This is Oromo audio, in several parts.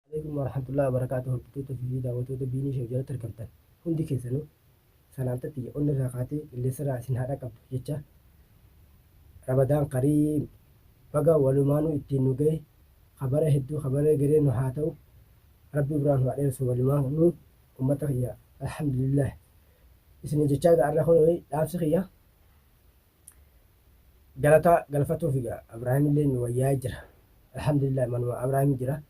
Aleykum warahmatullahi wabarakatuh hordoftoota fi daawwatoota Biinii Show jalatti argamtan hundi keessanuu salaamta tiyya onni irraa kaatee qilleensa irraa isin haa dhaqqabdu jecha Ramadaan Kariim baga walumaanuu ittiin nu gahe kabara hedduu kabara egeree nu haa ta'u Rabbi umraa nu haa dheeressu walumaanuu ummata kiyya alhamdulillah isin jechaa ga'a irra kun dhaamsi kiyya Galata galfatufi ga Abrahimilleen nu wayyaa'ee jira. Alhamdulillah manuma Abrahim jira.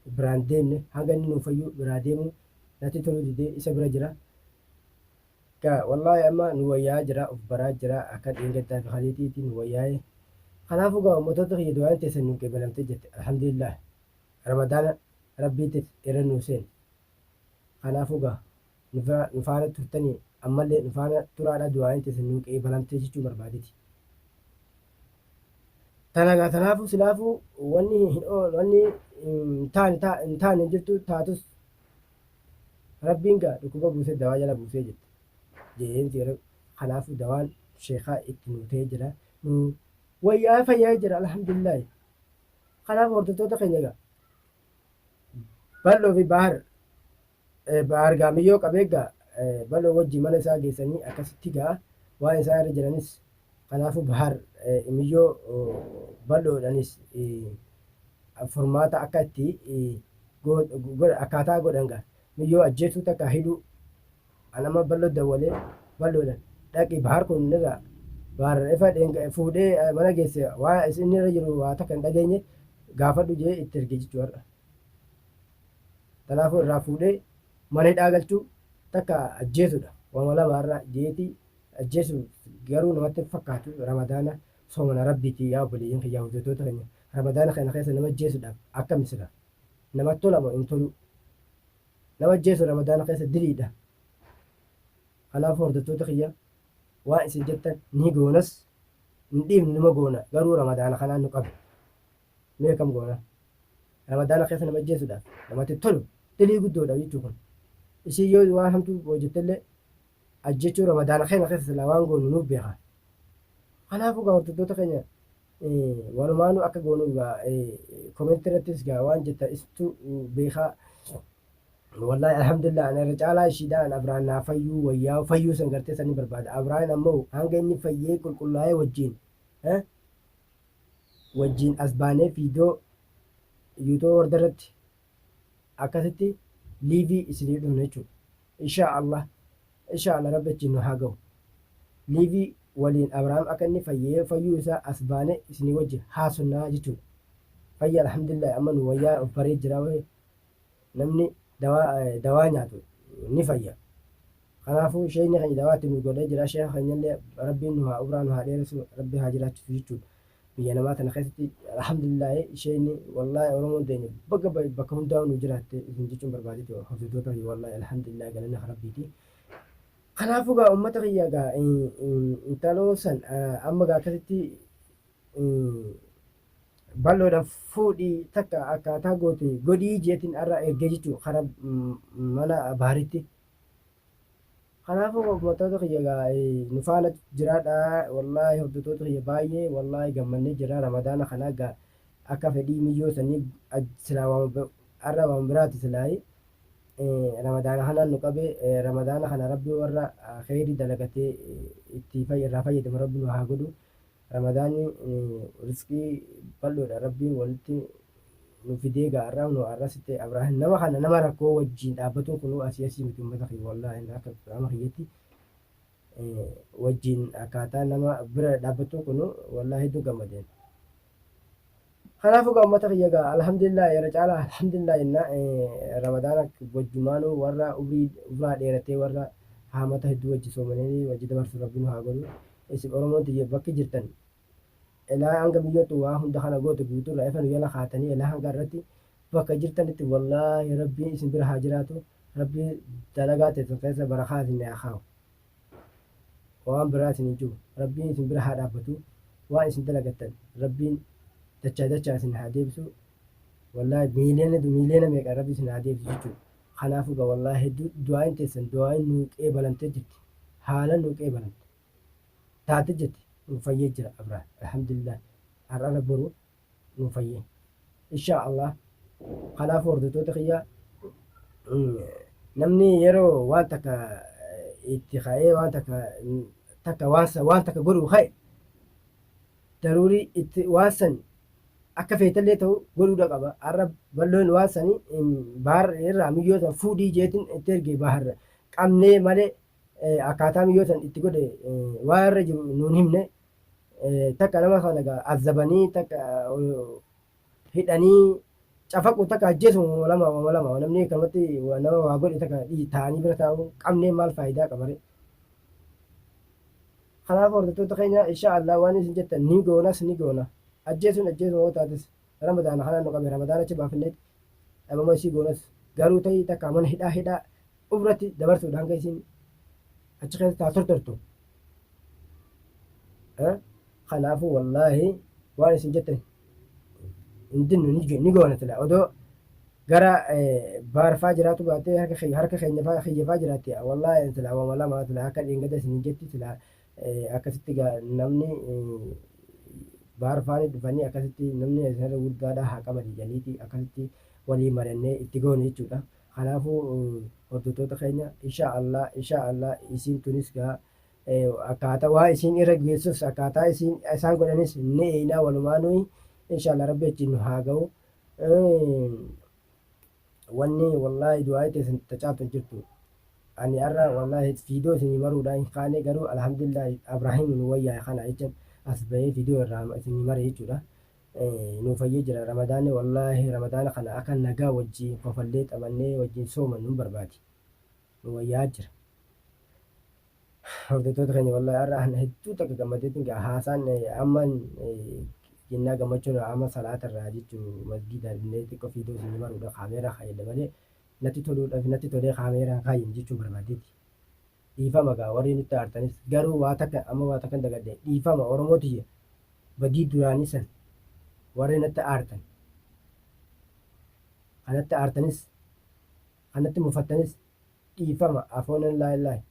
Biraan deemne hanga inni nuu fayyuu biraa deemuu natti toluu didee isa bira jira. Ga wallahi amma nu wayyaa'aa jira of baraa jira akka dheengaddaa fi kaleetiiti nu wayyaa'ee. Kanaafu ga ummatoota kiyya du'aayin teessan nuu qeebalamte jirti Alhamdulillah. Ramadaana Rabbiitit irra nuu seene. Kanaafu ga nu bira nu faana turtani ammalle nu faana turaadha du'aayin teessan nuu qeebalamte jechuu barbaadeti. Tana gaa tanaafu silaafu wanni hin ool wanni hin taane ta hin taane hin jirtu taatus rabbiin gaa dhukkuba buusee dawaa jala buusee jette jeen seera kanaafu dawaan sheekaa itti nuu ta'ee jira nuu wayyaa fayyaa jira alhamdulillaahi kanaaf hordoftoota keenya gaa bal'oo fi baahar Bahaar Gaamiyyoo qabee gaa Baloo wajji mana isaa geessanii akkasitti gaa waan isaa irra jiranis kanaafuu Bahaar Imiyyoo Baloodhanis furmaata akka itti akkaataa godhan gaa Miyyoo ajjeesuu takka hidhuu an amma Baloo dawwalee Baloodhan dhaqi Bahaar kun irraa Bahaar ifa fuudhee mana geesse waan inni irra jiru waa takka hin dhageenye gaafadhu jee itti erge jechuu har'a. Kanaafuu irraa fuudhee mana hidhaa galchuu takka ajjeesuudha. Wama lama irra jeetii ajjeesu garuu namatti hin fakkaatu ramadaana soomana rabbiiti yaa obboleeyyan kiyyaa hojjetoota keenya ramadaana kana keessa nama ajjeesuudhaaf akkami sila nama tola moo hin toluu nama ajjeesu ramadaana keessa diliidha kanaafuu hordoftoota kiyya waan isin jettan ni goonas hin dhiifnu numa goona garuu ramadaana kanaan nu qabe Mee akkam goona? Ramadaana keessa nama ajjeesuudhaaf namatti tolu dilii guddoodha jechuu kun. Ishiin yoo waan hamtuu hojjettellee ajjechuu ramadaana keenya keessa silaa waan goonu nuuf beeka. Kanaafuu gaa hordoftoota keenya walumaanuu akka goonu gaa komentii irrattis gaa waan jetta istu beekaa. Wallahi alhamdulillah ana irra caalaa ishiidha an Abraan naa fayyuu wayyaa fayyuu san gartee san ni barbaada. Abraan ammoo hanga inni fayyee qulqullaa'ee wajjin wajjiin as baanee viidiyoo yuutuba warda irratti akkasitti liivii isinii dhufna jechuudha inshaa allah inshaa allah rabbi achiin nu haa gahu liivii waliin abrahaam akka inni fayyee fayyuu isaa as baanee isinii wajji haasofnaa jechuudha fayya alhamdulillahi amma nu wayyaa of baree jira namni dawaa eh, dawaa nyaatu ni fayya kanaafuu sheekni keenya dawaa itti nu godhee jira sheeka keenyallee rabbiin nu haa umraa nu haa dheeressu rabbi haa jiraachisu jechuudha biyya namaa tana keessatti alhamdulillaahi sheekni wallaahi oromoon teenya bakka ba- bakka hundaa nu jiraatte isin jechuun barbaadeti hordoftoota kiyya wallaahi alhamdulillaahi galanni kan rabbiiti kanaafuu gaa ummata kiyya gaa eh, eh, intaloo san eh, amma gaa akkasitti balloodhaan fuudhii takka akkaataa goote godhii jeetiin arra ergee jechuudha kara mana baaritti. Kanaafuu uummattoota kiyya egaa nu faana jiraadha wallaahi hordoftoota kiyya baay'ee wallaahi gammannee jira ramadaana kana egaa akka fedhii miyyoo sanii silaa waan arra waan biraati silaayi ramadaana kanaan nu qabe ramadaana kana rabbi warra kheyrii dalagatee itti irraa fayyadamu rabbi nu haa godhu. Ramadaanni rizqii bal'oodha rabbiin walitti nu fidee gaa arraa kunoo arra sitte abraahin nama kana nama rakkoo wajjiin dhaabbatuun kunuu asii asii miti ummata kiyya wallaahi akka qaama kiyyatti wajjiin akkaataa nama bira dhaabbattuun kunuu wallaahi hedduu gammadeen. Kanaafuu egaa ummata kiyya egaa alhamdulillah irra caalaa alhamdulillah jenna ramadaana wajjumaanuu warra umrii umraa dheeratee warra haamata hedduu wajji soomananii wajji dabarsu rabbi nu haa godhu isin oromoon tiyya bakki jirtan elaa hanga biyyoottu waa hunda kana goote guutuu irraa efa nu jala kaatanii elaa hanga irratti bakka jirtanitti wallaahi rabbiin isin bira haa jiraatu rabbii dalagaa teessan keessa barakaa isin haa kaawu. waan biraa isin hin jiru rabbiin isin bira haa dhaabbatu waan isin dalagattan rabbiin dachaa dachaa isin haa deebisu wallaahi miiliyoona miiliyoona meeqa rabbi isin haa deebisu jechuudha kanaafuu ga wallaahi hedduu du'aayin teessan du'aayin nuu qeebalamtee jirti haala nuu qeebalamte taate jirti nuu fayyee jira abraa alhamdulillah har'arra boruu nu fayyi inshaa allah kanaaf hordoftoota kiyya namni yeroo waan takka itti ka'ee waan takka takka waan sa- waan takka godhu ka'e daruurii itti waan san akka feetallee ta'u godhuudha qaba har'a balloon waan sanii baar irraa miyyoo san fuudhii jeetin itti erge baar qabnee malee eh, akkaataa miyyoo san itti godhe eh, waan irra jiru nuun himne takka nama kana gaa azabanii takka hidhanii cafaqu takka ajjeesu walama walama namni kanatti waa nama waa godhe takka dhii taa'anii bira taa'u qabnee maal faayidaa qabare. Kanaaf hordoftoota keenya insha Allah waan isin jettan ni goonas ni goona ajjeesuun ajjeesuma yoo taates ramadaana kanaan nu qabe ramadaana achi baafneet dhabama isii goonas garuu ta'ii takka mana hidhaa hidhaa ofirratti dabarsuudhaan kan isin achi keessa taa tortortu kanaafu wallaahi waan isin jettan hin dinnu ni goona sila odoo gara baarfaa jiraatu baatee harka keenya faa kiyya faa jiraatti wallaahi sila wama lama sila akka dhiingada isin hin jetti sila akkasitti namni baarfaani dhufanii akkasitti namni isinirra guddaadha haa qaban jedhaniiti akkasitti walii marannee itti goone jechuudha. Kanaafu hordottoota keenya inshaa Allah inshaa Allah isiin tunis gaa akkaata waan isiin irra geessus akkaataa isiin isaan godhanis ni eeynaa walumaa nuyi inshaa Allah rabbi achiin nu haa ga'u wanni wallahi du'aayi teessan tacaaltu hin jirtu ani arra wallahi fiidoo isinii maruudha hin kaane garuu alhamdulillah abraahim nu wayyaa kana jechan as bahee fiidoo irraa isinii mare jechuudha nuu fayyee jira ramadaanni wallaahi ramadaana kana aka nagaa wajjiin kofallee xabannee wajjiin soomannu hin barbaadi nuu wayyaa jira hordottoota keenya wallaahi har'a ana hedduu takka gammadeetiin gaa haasaan amma jennaa gammachuun amma salaata irraa jechuun masgiida illee xiqqoo fiidoo isin maruudha kaameeraa kaayedha malee natti toluudhaaf natti tolee kaameeraa kaayin jechuun barbaadeeti. dhiifama gaa warrii nutti aartanis garuu waa takka amma waa takkan dagadhe dhiifama oromoo tiyya badii duraanii san warrii natti aartan ka natti aartanis ka natti mufattanis dhiifama afoonan laallahi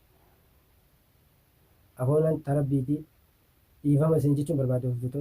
afoonan tarabbiitii dhiifama isin jechuun barbaada hojjetoota